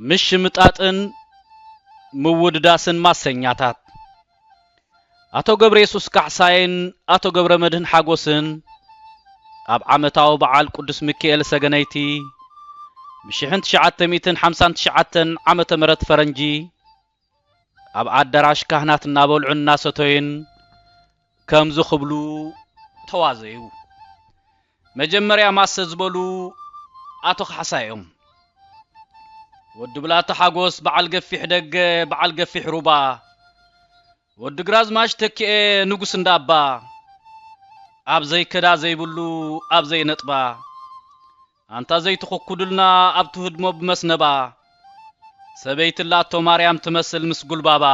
ምሽምጣጥን ምውድዳስን ማሰኛታት ኣቶ ገብረየሱስ ካሕሳይን ኣቶ ገብረመድህን ሓጎስን ኣብ ዓመታዊ በዓል ቅዱስ ሚኪኤል ሰገነይቲ ብ ሽሕን ትሽዓተ ሚእትን ሓምሳን ትሽዓተን ዓመተ ምህረት ፈረንጂ ኣብ ኣዳራሽ ካህናት እናበልዑን እናሰተዩን ከምዚ ክብሉ ተዋዘዩ። መጀመርያ ማሰ ዝበሉ ኣቶ ካሕሳይ እዮም። ወዲ ብላታ ሓጎስ በዓል ገፊሕ ደገ በዓል ገፊሕ ሩባ፣ ወዲ ግራዝማች ተኪኤ ንጉስ እንዳባ፣ ኣብ ዘይከዳ ዘይብሉ ኣብ ዘይነጥባ፣ ኣንታ ዘይትኹኩዱልና ኣብ ትህድሞ ብመስነባ፣ ሰበይቲ ኣላቶ ማርያም ትመስል ምስ ጉልባባ፣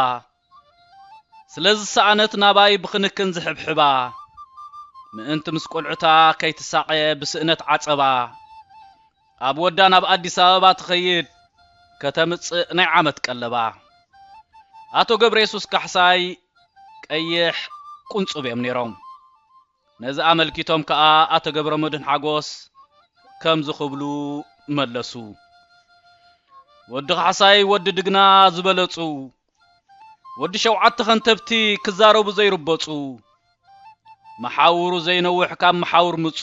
ስለ ዝሰኣነት ናባይ ብኽንክን ዝሕብሕባ፣ ምእንቲ ምስ ቈልዑታ ከይትሳቐ ብስእነት ዓጸባ፣ ኣብ ወዳ ናብ ኣዲስ ኣበባ ትኸይድ ከተምጽእ ናይ ዓመት ቀለባ። ኣቶ ገብረየሱስ ካሕሳይ፣ ቀይሕ፣ ቁንጹብ እዮም ነይሮም። ነዚ ኣመልኪቶም ከኣ ኣቶ ገብረመድህን ሓጎስ ከምዚ ክብሉ መለሱ። ወዲ ካሕሳይ ወዲ ድግና ዝበለጹ። ወዲ ሸውዓተ ከንተብቲ ክዛረቡ ዘይርበጹ መሓውሩ ዘይነውሕ ካብ መሓውር ምጹ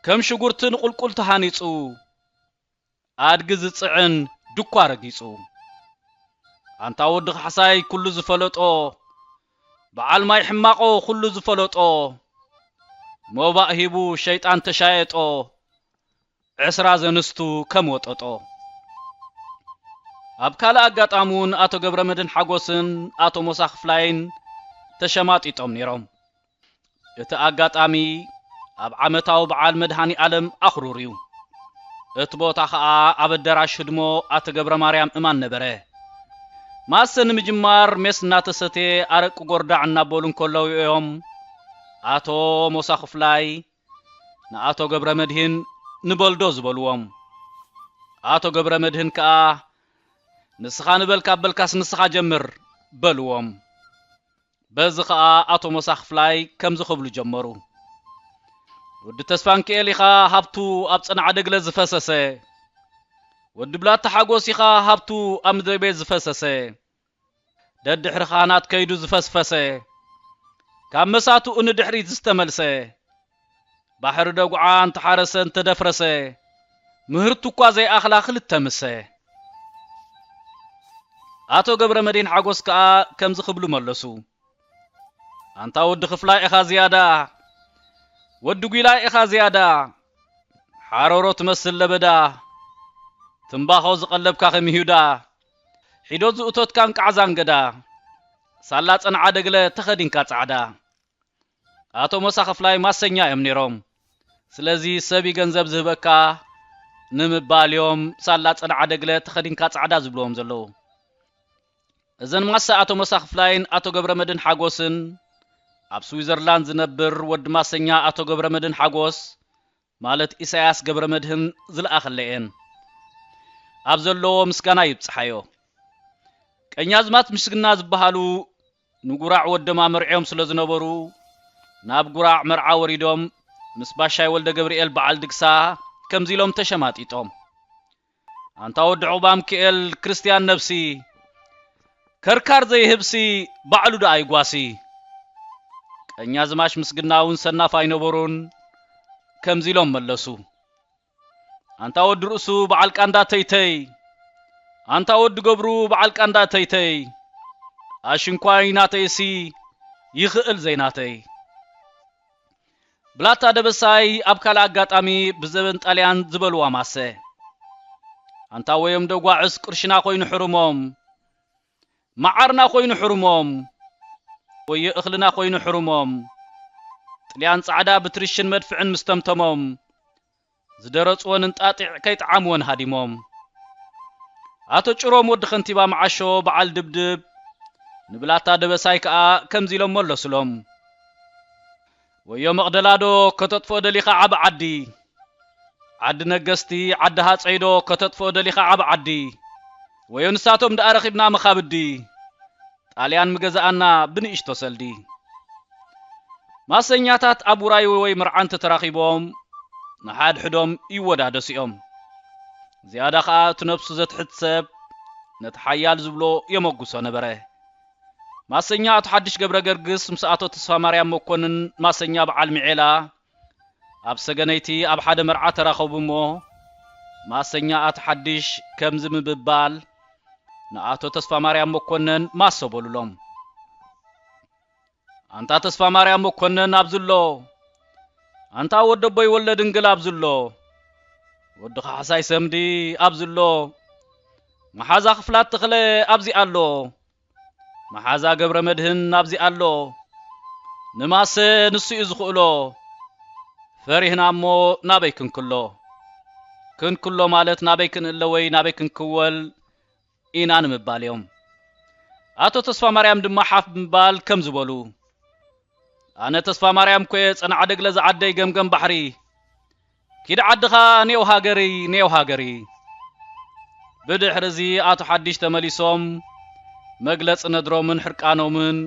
ከም ሽጉርቲ ንቁልቁል ተሃኒጹ ኣድጊ ዝጽዕን ድኳ ረጊጹ ኣንታ ወዲ ካሕሳይ ኩሉ ዝፈለጦ በዓል ማይ ሕማቆ ኩሉ ዝፈለጦ ሞባእ ሂቡ ሸይጣን ተሻየጦ ዕስራ ዘንስቱ ከም ወጠጦ። ኣብ ካልእ ኣጋጣሚ እውን ኣቶ ገብረመድህን ሓጎስን ኣቶ ሞሳ ክፍላይን ተሸማጢጦም ነይሮም። እቲ ኣጋጣሚ ኣብ ዓመታዊ በዓል መድሃኒኣለም ኣኽሩር እዩ። እቲ ቦታ ከኣ ኣብ ኣደራሽ ህድሞ ኣቶ ገብረማርያም እማን ነበረ። ማሰ ንምጅማር ሜስ እናተሰትየ ኣረቂ ጎርዳዕ እናበሉ እንከለዉ እዮም ኣቶ ሞሳ ክፍላይ፣ ንኣቶ ገብረመድህን ንበልዶ ዝበልዎም። ኣቶ ገብረመድህን ከኣ ንስኻ ንበል ካብ በልካስ ንስኻ ጀምር በልዎም። በዚ ከኣ ኣቶ ሞሳ ክፍላይ ከምዚ ክብሉ ጀመሩ። ወዲ ተስፋንኪኤል ኢኻ ሃብቱ ኣብ ጸናዕደግለ ዝፈሰሰ። ወዲ ብላታ ሓጎስ ኢኻ ሃብቱ ኣብ ምድረቤት ዝፈሰሰ። ደድሕሪ ኻህናት ከይዱ ዝፈስፈሰ፣ ካብ መሳትኡ ንድሕሪት ዝተመልሰ፣ ባሕሪ ደጉዓ እንተሓረሰ እንተደፍረሰ፣ ምህርቱ እኳ ዘይኣኽላ ክልተ ምሰ። ኣቶ ገብረመድሂን ሓጎስ ከኣ ከምዚ ክብሉ መለሱ፣ ኣንታ ወዲ ክፍላይ ኢኻ ዝያዳ፣ ወዲ ጒላይ ኢኻ ዝያዳ፣ ሓረሮ ትመስል ለበዳ፣ ትምባኾ ዝቐለብካ ከም ይሁዳ፣ ሒዶት ዝእቶትካን ቃዕዛን ገዳ ሳላ ጸንዓ ደግለ ተኸዲንካ ጻዕዳ ኣቶ ሞሳ ክፍላይ ማሰኛ እዮም ኔሮም ስለዚ ሰብ ይገንዘብ ዝህበካ ንምባል እዮም ሳላ ጸንዓ ደግለ ተኸዲንካ ጻዕዳ ዝብልዎም ዘለዉ እዘን ማሰ ኣቶ ሞሳ ክፍላይን ኣቶ ገብረመድን ሓጎስን ኣብ ስዊዘርላንድ ዝነብር ወዲ ማሰኛ ኣቶ ገብረመድን ሓጎስ ማለት ኢሳያስ ገብረመድህን ዝለኣኸለኤን ኣብ ዘለዎ ምስጋና ይብጽሓዮ። ቀኛዝማት ምስግና ዝበሃሉ ንጉራዕ ወዶም ኣመርዕዮም ስለ ዝነበሩ ናብ ጉራዕ መርዓ ወሪዶም ምስ ባሻይ ወልደገብርኤል በዓል ድግሳ ከምዚ ኢሎም ተሸማጢጦም። ኣንታ ወዲ ዑቕባምኪኤል ክርስትያን ነብሲ ከርካር ዘይህብሲ ባዕሉ ደኣ ይጓሲ። ቀኛዝማች ምስግና እውን ሰናፍ ኣይነበሩን ከምዚ ኢሎም መለሱ። ኣንታ ወዲ ርእሱ በዓል ቃንዳ ተይተይ ኣንታ ወዲ ገብሩ በዓል ቃንዳ ተይተይ ኣሽንኳይ ናተይሲ ይኽእል ዘይናተይ ብላታ ደበሳይ ኣብ ካልእ ኣጋጣሚ ብዘበን ጣልያን ዝበልዋ ማሰ ኣንታ ወዮም ደጓዕስ ቅርሽና ኮይኑ ሕሩሞም መዓርና ኮይኑ ሕሩሞም ወዮ እኽልና ኮይኑ ሕሩሞም ጥልያን ጻዕዳ ብትርሽን መድፍዕን ምስተምተሞም ዝደረጽወን እንጣጢዕ ከይጥዓምወን ሃዲሞም። ኣቶ ጭሮም ወዲ ከንቲባ መዓሾ በዓል ድብድብ ንብላታ ደበሳይ ከኣ ከምዚ ኢሎም መለሱሎም። ወዮ መቕደላዶ ከተጥፍኦ ደሊኻ ዓቢ ዓዲ? ዓዲ ነገስቲ፣ ዓዲ ሃጸይዶ ከተጥፍኦ ደሊኻ ዓቢ ዓዲ? ወዮ ንሳቶም ደኣ ረኺብና መኻብዲ ጣልያን ምገዛኣና ብንእሽቶ ሰልዲ። ማሰኛታት ኣብ ውራይ ወይ መርዓ እንተ ተራኺቦም ንሓድሕዶም ይወዳደሱ'ዮም። ዝያዳ ከኣ እቲ ነብሱ ዘትሕት ሰብ ነቲ ሓያል ዝብሎ የመጉሶ ነበረ። ማሰኛ ኣቶ ሓድሽ ገብረገርግስ ምስ ኣቶ ተስፋማርያም መኮንን ማሰኛ በዓል ሚዔላ ኣብ ሰገነይቲ ኣብ ሓደ መርዓ ተራኸቡ እሞ ማሰኛኣት ሓድሽ ከምዚ ምብባል ንኣቶ ተስፋማርያም መኮነን ማሶ በሉሎም። ኣንታ ተስፋማርያም መኮነን ኣብዝሎ ኣንታ ወዲ ኣቦይ ወልደ ድንግል ኣብዝሎ ወዲ ካሕሳይ ሰምዲ ኣብዝሎ መሓዛ ክፍላት ተኽለ ኣብዚ ኣሎ መሓዛ ገብረመድህን ኣብዚ ኣሎ ንማሰ ንሱ እዩ ዝኽእሎ ፈሪህና እሞ ናበይ ክንክሎ ክንክሎ ማለት ናበይ ክንእለ ወይ ናበይ ክንክወል ኢና ንምባል እዮም ኣቶ ተስፋማርያም ድማ ሓፍ ብምባል ከምዚ በሉ ኣነ ተስፋማርያም ኮየ ጸናዕደግለ ዝዓደይ ገምገም ባሕሪ ኪድ ዓድኻ ኔው ሃገርይ ኔው ሃገርይ። ብድሕሪ'ዚ ኣቶ ሓዲሽ ተመሊሶም መግለጺ ነድሮምን ሕርቃኖምን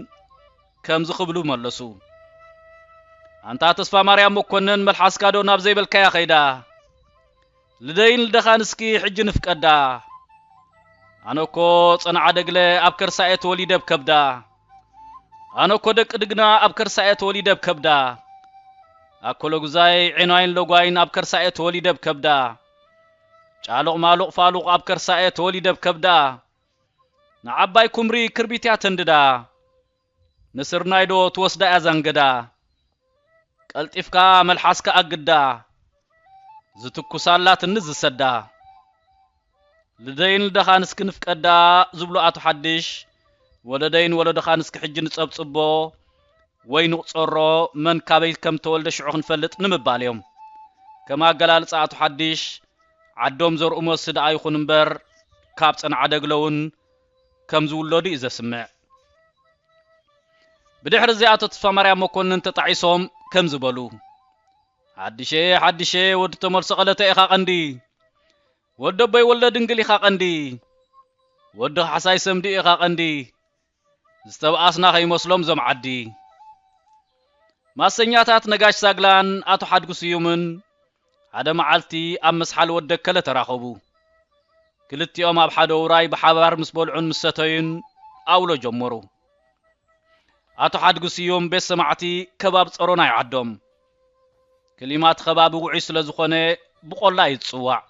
ከምዚ ክብሉ መለሱ። ኣንታ ተስፋማርያም መኮነን መልሓስካ'ዶ ናብ ዘይበልካያ ከይዳ? ልደይን ልደኻን እስኪ ሕጂ ንፍቀዳ። ኣነ'ኮ ጸንዓደግለ ኣብ ከርሳ'የ ተወሊደ ብ ከብዳ። ኣነ እኮ ደቂ ድግና ኣብ ከርሳ እየ ተወሊደ ብ ከብዳ ኣኮሎጉዛይ ዒኗይን ሎጓይን ኣብ ከርሳ እየ ተወሊደ ብ ከብዳ ጫሉቕ ማሉቕ ፋሉቕ ኣብ ከርሳ እየ ተወሊደ ብ ከብዳ ንዓባይ ኩምሪ ክርቢት እያ ተንድዳ ንስርናይዶ ትወስዳ እያ ዛንገዳ ቀልጢፍካ መልሓስካ ኣግዳ ዝትኩሳላ ትንስ ዝሰዳ ልደይን ልደኻን እስኪ ንፍቀዳ ዝብሉ ኣቶ ሓድሽ ወለደይን ወለዶኻን እስኪ ሕጂ ንጸብጽቦ ወይ ንቑጸሮ መን ካበይ ከም ተወልደ ሽዑ ክንፈልጥ ንምባል እዮም ከም ኣገላልጻ ኣቶ ሓድሽ ዓዶም ዘርኡ መሲ ደኣ ይኹን እምበር ካብ ጸንዓደግለውን ከም ዝውለዱ እዩ ዘስምዕ። ብድሕሪ እዚ ኣቶ ተስፋማርያም መኮንን ተጣዒሶም ከምዚ በሉ፣ ሓድሸ ሓድሸ ወዲ ተመልሶ ቀለተ ኢኻ ቀንዲ፣ ወዲ ኣቦይ ወልደ ድንግል ኢኻ ቀንዲ፣ ወዲ ካሕሳይ ሰምዲ ኢኻ ቀንዲ፣ ዝተብኣስና ከይመስሎም እዞም ዓዲ። ማሰኛታት ነጋሽ ሳግላን ኣቶ ሓድጉ ስዩምን ሓደ መዓልቲ ኣብ መስሓል ወደከለ ተራኸቡ። ክልቲኦም ኣብ ሓደ ውራይ ብሓባር ምስ በልዑን ምስ ሰተዩን ኣውሎ ጀመሩ። ኣቶ ሓድጉ ስዩም ቤት ሰማዕቲ ከባብ ጸሮና እዩ ዓዶም። ክሊማ እቲ ከባቢ ውዑይ ስለ ዝኾነ ብቆላ እዩ ዝጽዋዕ።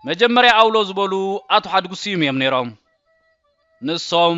መጀመርያ ኣውሎ ዝበሉ ኣቶ ሓድጉ ስዩም እዮም ነይሮም። ንሶም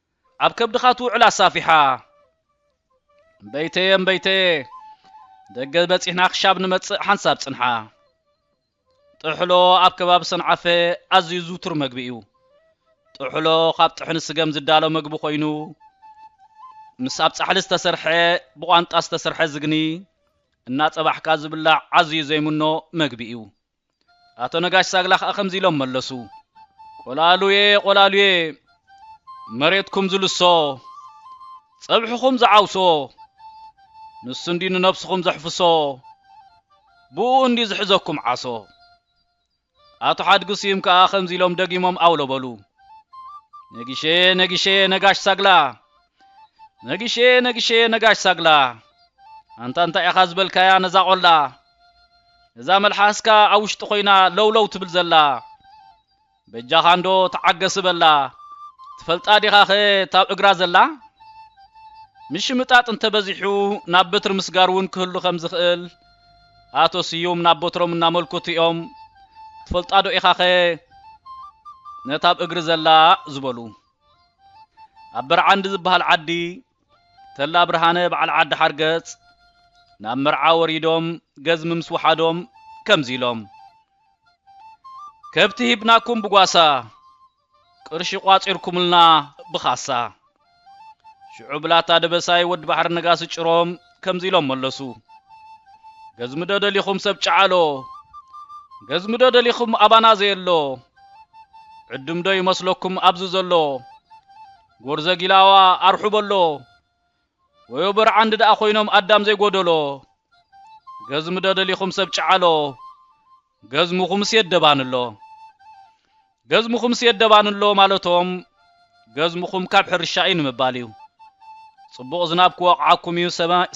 ኣብ ከብድኻ ትውዕል ኣሳፊሓ። እምበይተየ እምበይተየ ደገ በጺሕና ክሻብ ንመጽእ ሓንሳብ ጽንሓ። ጥሕሎ ኣብ ከባቢ ሰንዓፈ ኣዝዩ ዝውቱር መግቢ እዩ። ጥሕሎ ካብ ጥሕኒ ስገም ዝዳሎ መግቢ ኮይኑ ምስ ኣብ ጻሕሊ ዝተሰርሐ ብቋንጣ ዝተሰርሐ ዝግኒ እናጸባሕካ ዝብላዕ ኣዝዩ ዘይምኖ መግቢ እዩ። ኣቶ ነጋሽ ሳግላ ከኣ ከምዚ ኢሎም መለሱ ቆላሉዬ ቆላሉዬ መሬትኩም ዝልሶ ጸብሕኹም ዝዓውሶ ንሱ እንዲ ንነብስኹም ዘሕፍሶ ብኡ እንዲ ዝሕዘኩም ዓሶ ኣቶ ሓድጊ ስዩም ከኣ ከምዚ ኢሎም ደጊሞም ኣውለበሉ ነጊሸዬ ነጊሸዬ ነጋሽ ሳግላ ነጊሸየ ነጊሸየ ነጋሽ ሳግላ ኣንታ እንታይ ኢኻ ዝበልካያ ነዛ ቆላ እዛ መልሓስካ ኣብ ውሽጢ ኮይና ለውለው ትብል ዘላ በጃኻ እንዶ ተዓገስ በላ ትፈልጣ ዲኻ ኸ ታብ እግራ ዘላ ምሽምጣጥ እንተበዚሑ ናብ በትሪ ምስጋር እውን ክህሉ ከም ዝኽእል ኣቶ ስዩም ናብ በትሮም እናመልኩት እዮም ትፈልጣ ዶ ኢኻ ኸ ነታብ እግሪ ዘላ ዝበሉ ኣብ በርዓንዲ ዝበሃል ዓዲ ተላ ብርሃነ በዓል ዓዲ ሓርገጽ ናብ መርዓ ወሪዶም ገዝሚ ምስ ወሓዶም ከምዚ ኢሎም ከብቲ ሂብናኩም ብጓሳ ቅርሺ ቋጺርኩምልና ብኻሳ ሽዑ ብላታ ደበሳይ ወዲ ባሕሪ ነጋሲ ጭሮም ከምዚ ኢሎም መለሱ፣ ገዝሚዶ ደሊኹም ሰብ ጨዓሎ፣ ገዝሚዶ ደሊኹም ኣባና ዘየሎ፣ ዕዱምዶ ይመስለኩም ኣብዚ ዘሎ፣ ጎርዘ ጊላዋ ኣርሑ በሎ፣ ወዮ በርዓንዲ ደኣ ኮይኖም ኣዳም ዘይጎደሎ፣ ገዝሚዶ ደሊኹም ሰብ ጨዓሎ፣ ገዝምኹምስ የደባንሎ ገዝምኹምስ የደባንሎ ማለቶም ገዝምኹም ካብ ሕርሻ እዩ ንምባል እዩ። ጽቡቕ ዝናብ ክወቕዓኩም እዩ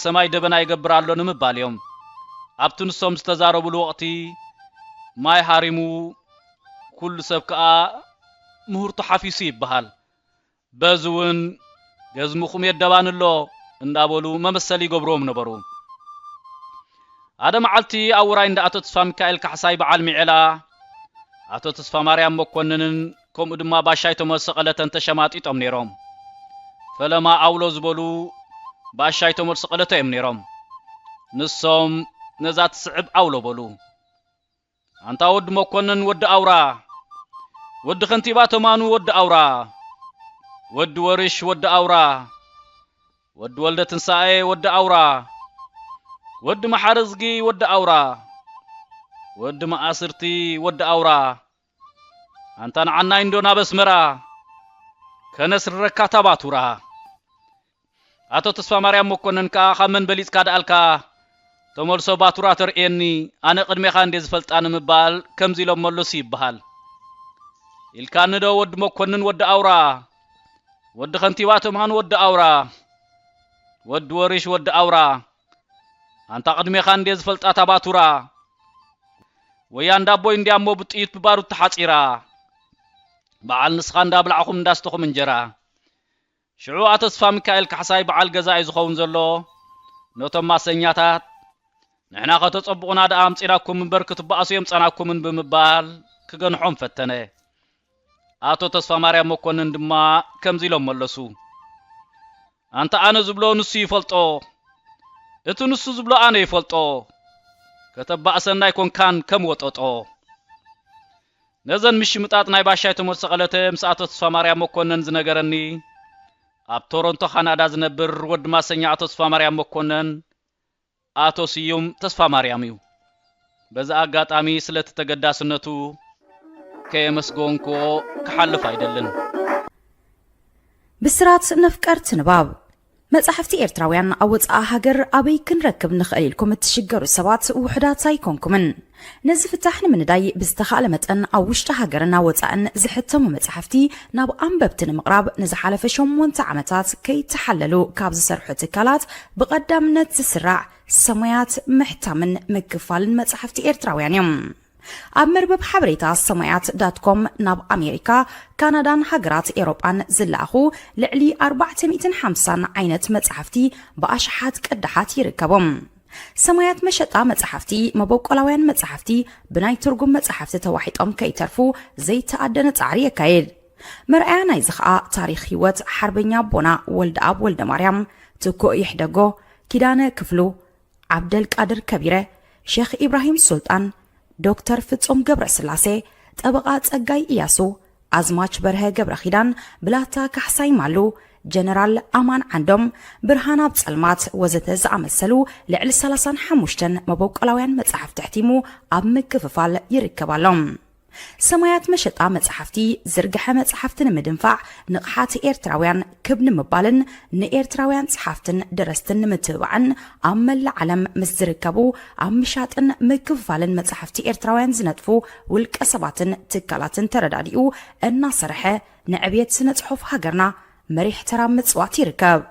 ሰማይ ደበና ይገብር ኣሎ ንምባል እዮም። ኣብቲ ንሶም ዝተዛረብሉ ወቕቲ ማይ ሃሪሙ ኩሉ ሰብ ከኣ ምህርቱ ሓፊሱ ይበሃል። በዚ ውን ገዝምኹም የደባኒ ኣሎ እንዳበሉ መመሰሊ ይገብሩዎም ነበሩ። ሓደ መዓልቲ ኣብ ውራይ እንዳ ኣቶ ተስፋሚካኤል ካሕሳይ በዓል ሚዔላ፣ ኣቶ ተስፋማርያም መኮንንን ከምኡ ድማ ባሻይ ተመልሰ ቀለተን ተሸማጢጦም ነይሮም። ፈለማ ኣውሎ ዝበሉ ባሻይ ተመልሰ ቀለተ እዮም ነይሮም። ንሶም ነዛ ትስዕብ ኣውሎ በሉ። ኣንታ ወዲ መኮነን ወዲ ኣውራ ወዲ ከንቲባ ተማኑ ወዲ ኣውራ ወዲ ወርሽ ወዲ ኣውራ ወዲ ወልደ ትንሳኤ ወዲ ኣውራ ወዲ መሓረዝጊ ወዲ ኣውራ ወዲ መኣስርቲ ወዲ ኣውራ ኣንታ ንዓናይ እንዶ ናብ ኣስመራ ከነስርረካ ታባቱራ ኣቶ ተስፋማርያም መኮነን ከኣ ካብ መን በሊጽካ ደኣልካ ተመልሶ ባቱራ ተርእየኒ ኣነ ቅድሜኻ እንዴ ዝፈልጣ ንምባል ከምዚ ኢሎም መለሱ ይበሃል ኢልካኒ ዶ ወዲ መኮንን ወዲ ኣውራ ወዲ ከንቲባ ተምሃን ወዲ ኣውራ ወዲ ወሪሽ ወዲ ኣውራ ኣንታ ቅድሜኻ እንዴ ዝፈልጣ ታባቱራ ወያ እንዳቦይ እንዲያ እሞ ብጥይት ብባሩድ ተሓጺራ በዓል ንስኻ እንዳብላዕኹም እንዳስተኹም እንጀራ ሽዑ ኣቶስፋሚካኤል ካሕሳይ በዓል ገዛ'ዩ ዝኸውን ዘሎ፣ ነቶም ማሰኛታት፣ ንሕና ከተጸብቑና ደኣ ኣምጺእናኩም እምበር ክትበኣሱ የምጻእናኩምን ብምባል ክገንሖም ፈተነ። ኣቶ ተስፋማርያም መኮንን ድማ ከምዚ ኢሎም መለሱ፣ ኣንታ ኣነ ዝብሎ ንሱ ይፈልጦ፣ እቲ ንሱ ዝብሎ ኣነ ይፈልጦ፣ ከተባእሰና ኣይኮንካን ከም ወጠጦ። ነዘን ምሽምጣጥ ናይ ባሻይ ተሞሰቐለተ ምስ ኣቶ ተስፋማርያም መኮነን ዝነገረኒ ኣብ ቶሮንቶ ካናዳ ዝነብር ወዲ ማሰኛ ኣቶ ተስፋማርያም መኮነን ኣቶ ስዩም ተስፋማርያም እዩ። በዚ ኣጋጣሚ ስለቲ ተገዳስነቱ ከየመስገንኩዎ ክሓልፍ ኣይደልን። ብስራት ነፍቀርቲ ንባብ! መጻሕፍቲ ኤርትራውያን ኣብ ወጻኢ ሃገር ኣበይ ክንረክብ ንኽእል ኢልኩም እትሽገሩ ሰባት ውሑዳት ኣይኮንኩምን። ነዚ ፍታሕ ንምንዳይ ብዝተኻእለ መጠን ኣብ ውሽጢ ሃገርን ኣብ ወጻእን ዝሕተሙ መጻሕፍቲ ናብ ኣንበብቲ ንምቕራብ ንዝሓለፈ ሸሞንተ ዓመታት ከይተሓለሉ ካብ ዝሰርሑ ትካላት ብቐዳምነት ዝስራዕ ሰሙያት ምሕታምን ምክፋልን መጻሕፍቲ ኤርትራውያን እዮም። ኣብ መርበብ ሓበሬታ ሰማያት ዳት ኮም ናብ ኣሜሪካ፣ ካናዳን ሃገራት ኤውሮጳን ዝለኣኹ ልዕሊ ኣርባዕተ ሚእትን ሓምሳን ዓይነት መጻሕፍቲ ብኣሽሓት ቅዳሓት ይርከቦም። ሰማያት መሸጣ መጻሕፍቲ መበቆላውያን መጻሕፍቲ ብናይ ትርጉም መጻሕፍቲ ተዋሒጦም ከይተርፉ ዘይተኣደነ ጻዕሪ የካይድ። መርኣያ ናይዚ ከኣ ታሪኽ ህይወት ሓርበኛ ኣቦና ወልደኣብ ወልደማርያም፣ ትኩእ ይሕደጎ፣ ኪዳነ ክፍሉ፣ ዓብደልቃድር ከቢረ፣ ሸኽ ኢብራሂም ሱልጣን፣ ዶክተር ፍጹም ገብረስላሴ፣ ጠበቓ ጸጋይ እያሱ፣ ኣዝማች በርሀ ገብረኺዳን፣ ብላታ ካሕሳይ ማሉ፣ ጀነራል ኣማን ዓንዶም፣ ብርሃን ኣብ ጸልማት ወዘተ ዝኣመሰሉ ልዕሊ ሰላሳን ሓሙሽተን መበቆላውያን መጻሕፍቲ ኣሕቲሙ ኣብ ምክፍፋል ይርከብ ኣሎ። ሰማያት መሸጣ መጽሓፍቲ ዝርግሐ መጽሓፍቲ ንምድንፋዕ ንቕሓት ኤርትራውያን ክብ ንምባልን ንኤርትራውያን ጸሓፍትን ደረስትን ንምትብባዕን ኣብ መላእ ዓለም ምስ ዝርከቡ ኣብ ምሻጥን ምክፍፋልን መጽሓፍቲ ኤርትራውያን ዝነጥፉ ውልቀ ሰባትን ትካላትን ተረዳዲኡ እናሰርሐ ንዕብየት ስነ ጽሑፍ ሃገርና መሪሕ ተራ ምጽዋት ይርከብ።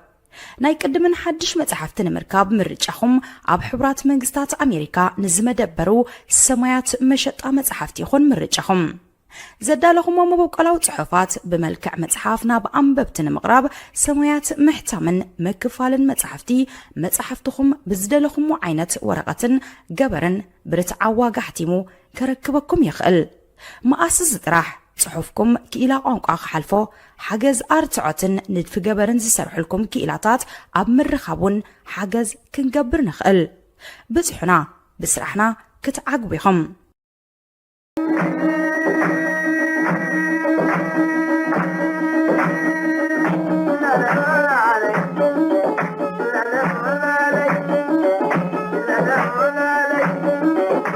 ናይ ቅድምን ሓድሽ መጻሕፍቲ ንምርካብ ምርጫኹም ኣብ ሕቡራት መንግስታት ኣሜሪካ ንዝመደበሩ ሰማያት መሸጣ መጻሕፍቲ ይኹን ምርጫኹም። ዘዳለኹሞ መበቆላዊ ጽሑፋት ብመልክዕ መጽሓፍ ናብ ኣንበብቲ ንምቕራብ ሰማያት ምሕታምን ምክፋልን መጻሕፍቲ መጻሕፍትኹም ብዝደለኹሞ ዓይነት ወረቐትን ገበርን ብርትዓዊ ዋጋ ኣሕቲሙ ከረክበኩም ይኽእል። መኣስ እዚ ጥራሕ ጽሑፍኩም ክኢላ ቋንቋ ክሓልፎ ሓገዝ ኣርትዖትን ንድፊ ገበርን ዝሰርሑልኩም ክኢላታት ኣብ ምርኻብ ውን ሓገዝ ክንገብር ንኽእል። ብጽሑና ብስራሕና ክትዓግቡ ኢኹም።